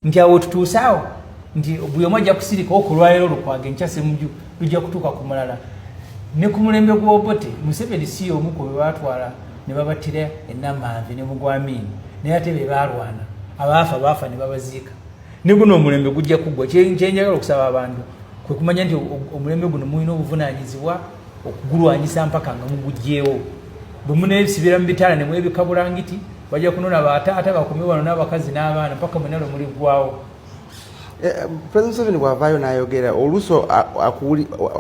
nti awo tutuuse awo nti buli omu ajja kusirika okulwalero lukwaga enkya semuju lujja kutuuka ku mulala ne ku mulembe gw'obote museveni si y'omu ku be baatwala ne babattira enamanve ne mugwamiini naye ate be baalwana abaafa baafa ne babaziika ne guno omulembe gujja kuggwa kyenjagala okusaba abantu kwe kumanya nti omulembe guno mulina obuvunaanyizibwa okugulwanyisa mpaka nga mugugyewo bwe munebisibira mu bitaala ne mwebika bulangiti bajja kunona bataata bakumi wano n'abakazi n'abaana mpaka mwena lwe muliggwawo eh, eh, president museveni bwavaayo n'ayogera oluusi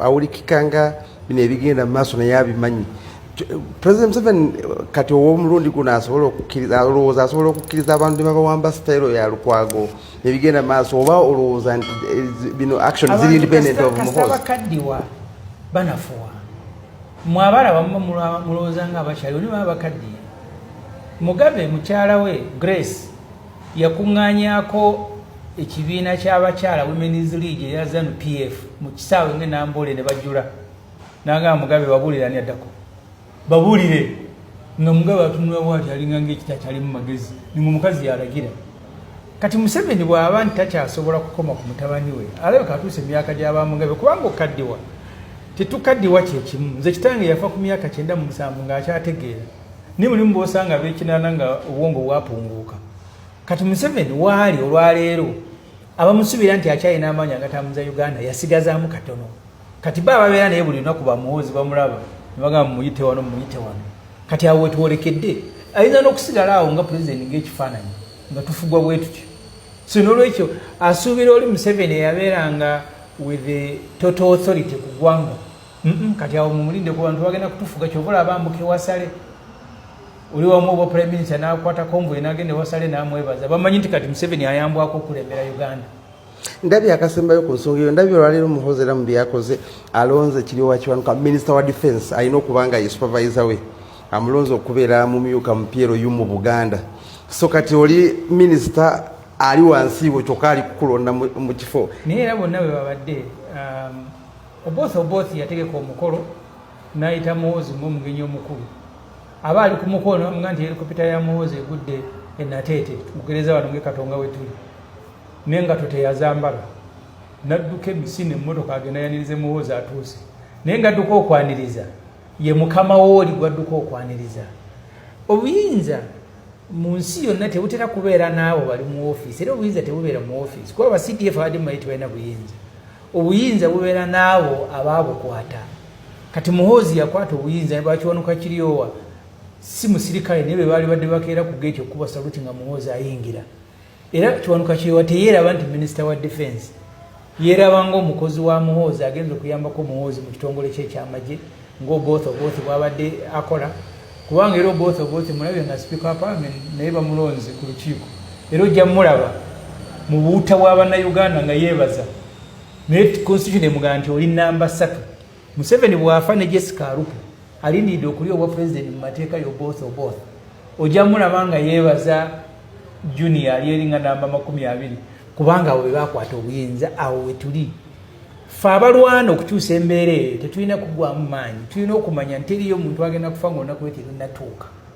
awulikika nga bino ebigenda mu maaso naye abimanyi president museveni kati ow'omulundi guno asobola okukkiriza olowooza asobola okukkiriza abantu ne babawamba sitayiro ya lukwago nebigenda mu maaso oba olowooza nti eh, bino action ziri independent of muhozi banafuwa mwe abaala bamuba mulowooza nga abakyali oli baba bakaddiye mugabe mukyala we grace yakuŋŋanyako ekibiina ky'abakyala women's league eya zanu pf mu kisaawe nge namboole ne bajula nangamba mugabe babuulira ani addako babulire nga mugabe atunula bwati alinga ngaekita kyalimu magezi ninga omukazi yalagira kati museveni bwaba nti takyasobola kukoma ku mutabani we alabeka atuusa emyaka gyabamugabe kubanga okukaddiwa tetukaddiwa kyekimu nze kitange yafa ku myaka kyenda mu musanvu ngaakyategeera naye mulimu bosanga bekinana nga obwongo bwapunguuka kati museveni waali olwaleero abamusubira nti akyalina amaanyi agatamuza uganda yasigazamu katono kati baba babeera naye buli lunaku bamuwoozi bamulaba nebagamba muyite wano muyite wano kati awo wetwolekedde ayinza n'okusigala awo nga pulezidenti ngaekifaananyi nga tufugwa bwe tutyo so n'olwekyo asuubira oli museveni eyabeeranga with the total authority ku ggwanga kati awo mumulinde ku bantu bagenda kutufuga kyova olaba ambuka ewasale oli wamu oba prime minister n'akwata konvoye n'agenda ewasale n'amwebaza bamanyi nti kati museveni ayambwako okulembera uganda ndabye akasembayo ku nsonga eyo ndabye olwaleero muhozi era mu byakoze alonze kiryowa kiwanuka minisita wa defense alina okuba nga ye supervisor we amulonze okubeera mumyuka mupiero yu mu buganda so kati oli minisita ali wansi wo kyokka ali kukulonda mu kifo naye era bonna bwe babadde um, oboth oboth yategeka omukolo nayita muhozi ngaomugenyi omukulu aba ali ku mukolo namuga nti helikopita ya muhozi egudde enateete mugereza wano ngekatonga wetuli nengato teyazambala nadduka emisi nemmotoka agenda yanirize muwoozi atuuse naye ngadduka okwaniriza ye mukama wooli gwadduka okwaniriza obuyinza mu nsi yonna tebutera kubeera naabo bali mu ofiisi era obuyinza tebubeera mu ofiisi kuba abacdf abadde mumayi tebalina buyinza obuyinza bubeera naabo abaabukwata kati muhoozi yakwata obuyinza bakiwanuka kiryowa si musirikale naye bebaali badde bakeera ku geeti okukuba saluti nga muhoozi ayingira era kiwanuka kyewa teyeeraba nti minisita wa defense yeeraba ngaomukozi wa muhoozi agenza okuyambako muhoozi mu kitongole kye ekyamagye ngaobooth obooth bwabadde akola kubanga era obooth obooth mulabye nga sipiika wa parliament naye bamulonzi ku lukiiko era ojja mulaba mu buuta bwa bannayuganda nga yeebaza naye constitution emugaa nti oli namba satu Museveni bwafa ne Jessica Arupo alindiridde okulya obwa pulezidenti mu mateeka yo both oboth ojja mulaba nga yeebaza junior ali eringa namba makumi abiri kubanga awo bebakwata obuyinza awo wetuli fe abalwana okukyusa embeera eyo tetulina kugwamu maanyi tulina okumanya nti eriyo omuntu agenda kufa ngaonaku weterinatuuka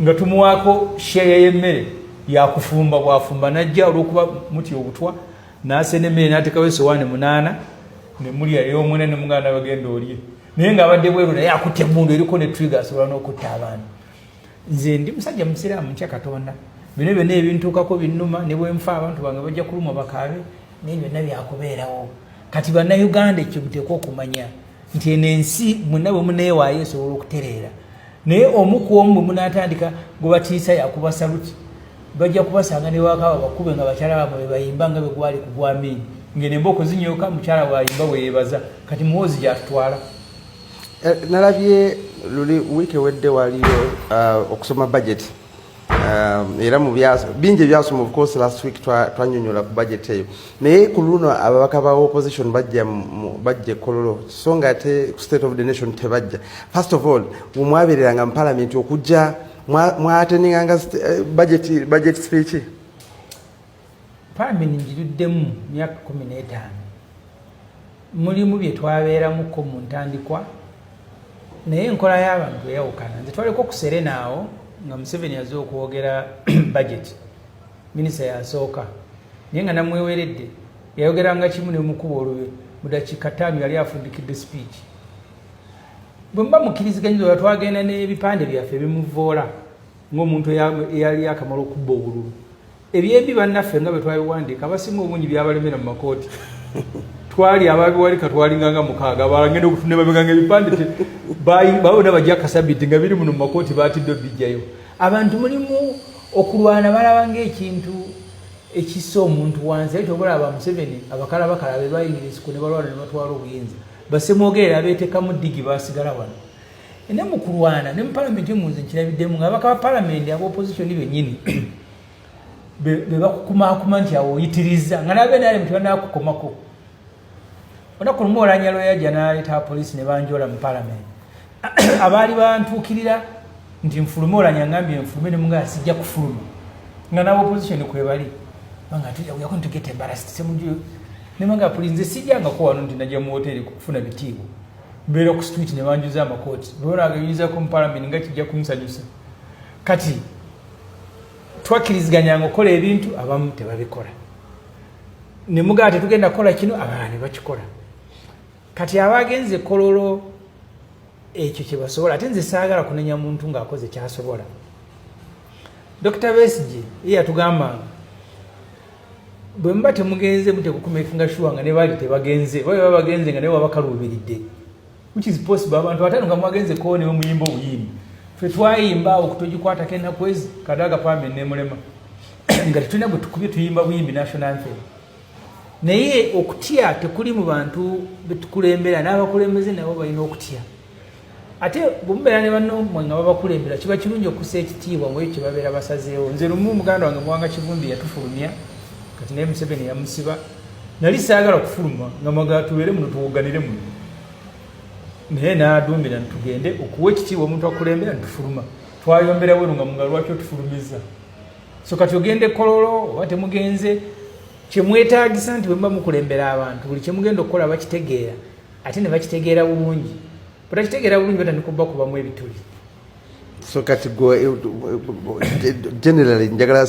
nga tumuwaako sheeya y'emmere yakufumba bwafumba najja olwokuba muti obutwa nasena emmere natekawo esowaani munaana nemulya eyomwena nemuganda bagenda olye naye nga abadde bweru naye akutte mundu eriko ne twiga asobola n'okutta abaana nze ndi musajja musiraamu nkya katonda bino byona ebintuukako binnuma ne bwenfa abantu bange bajja kulumwa bakaabe naye byonna byakubeerawo kati bannayuganda ekyo muteekwa okumanya nti eno ensi mwena bwe muneewaayo esobola okutereera naye omu ku omu bwe munaatandika gwe batiisa yakuba saluti bajja kubasanga ne wakaba bakube nga bakyala bamwe bebayimba nga begwali ku gwamiini ngene mba okuzinyoka mukyala wayimba weyebaza kati muwoozi gyatutwala eh, nalabye luli wiiki ewedde waliyo uh, okusoma bajeti Um, era mu bingi ebyasoma of course last week twanyonyola ku budget eyo naye ku luno ababaka ba opposition bajja bajja ekololo so nga ate ku state of the nation tebajja first of all wemwabereranga mu palamenti okujja mwatendinganga eh, budget speech Faamini ngiruddemu myaka kumi n'etaano. Mulimu bye twabeeramuko mu ntandikwa naye enkola y'abantu eyawukana. Nze twaleko ku Serena awo nga Museveni aze okwogera bajeti, minisita yasooka naye nga namweweredde yayogeranga kimu ne mukuba olube mu dakiika ttaano yali afundikidde sipiiki. Bwe muba mukkiriziganyizwa oba twagenda n'ebipande byaffe bimuvvoola ng'omuntu eyali akamala okubba obululu. ebyembi bannaffe nga bwe twabiwandiika abasinga obungi byabalemera mu makooti twali ababiwalika twalinganga mukaaga balangenda okutunda babiganga ebipande babona bajja kasabiti nga biri muno mu makooti batidde obijjayo abantu mulimu okulwana balaba ngaekintu ekissa omuntu wansi aye tobalaba museveni abakala bakala bebayingira esiku ne balwana ne batwala obuyinza basemwogerera abeetekamu digi basigala wano ne mu kulwana ne mu palamenti emunze nkirabiddemu nga abaka ba palamenti aba opozitioni bennyini bebakukumakuma nti awo oyitiriza nga nabe nali mutibanakukomako onaku lumu olanya lweyaja naleta apolisi nebanjola mu palamenti abaali bantuukirira nti nfulume olanya ngambye nfulume nemungaa sijja kufuluma nga nawe opposition kwebali nemanga puli nze sijjangako wano nti najja mu woteri kufuna bitiibwa mbeera ku street nebanjuza amakooti bwebanaagayinzako mu palamenti nga kijja kunsanyusa kati twakkiriziganyanga okukola ebintu abamu tebabikola ne mugamba tetugenda kukola kino abalala ne bakikola kati aba agenze kololo ekyo kye basobola ate nze saagala kunenya muntu ng'akoze kyasobola dokita besigi ye yatugambanga bwe muba temugenze mutekukumekinga shuwa nga ne baali tebagenze oba baba bagenze nga naye wabakaluubiridde which is possible abantu batano nga mwagenze koo newe muyimba obuyimbi fe twayimba awo kutogikwatako ennaku ezi kadaga pambe nemulema nga tetulina gwe tukubye tuyimba buyimbi national anthem naye okutya tekuli mu bantu betukulembera n'abakulembeze nabo balina okutya ate bwemubeera ne bannomwe nga babakulembera kiba kirungi okusa ekitiibwa mu ekyo kyebabeera basazeewo nze lumu muganda wange muwanga kivumbi yatufulumya kati naye museveni yamusiba nali saagala kufuluma nga mwagala tubeere muno tuwoganire muno naye n'aduumira nitugende okuwa ekitiibwa omuntu akulembera nitufuluma twayomberawo eno nga munga lwaki otufulumiza so kati ogende kololo oba temugenze kyemwetagisa nti bwemuba mukulembera abantu buli kyemugenda okukola bakitegeera ate ne bakitegeera bulungi batakitegeera bulungi batandika obubakubamu ebituli so kati gwe eh, eh, eh, generally njagala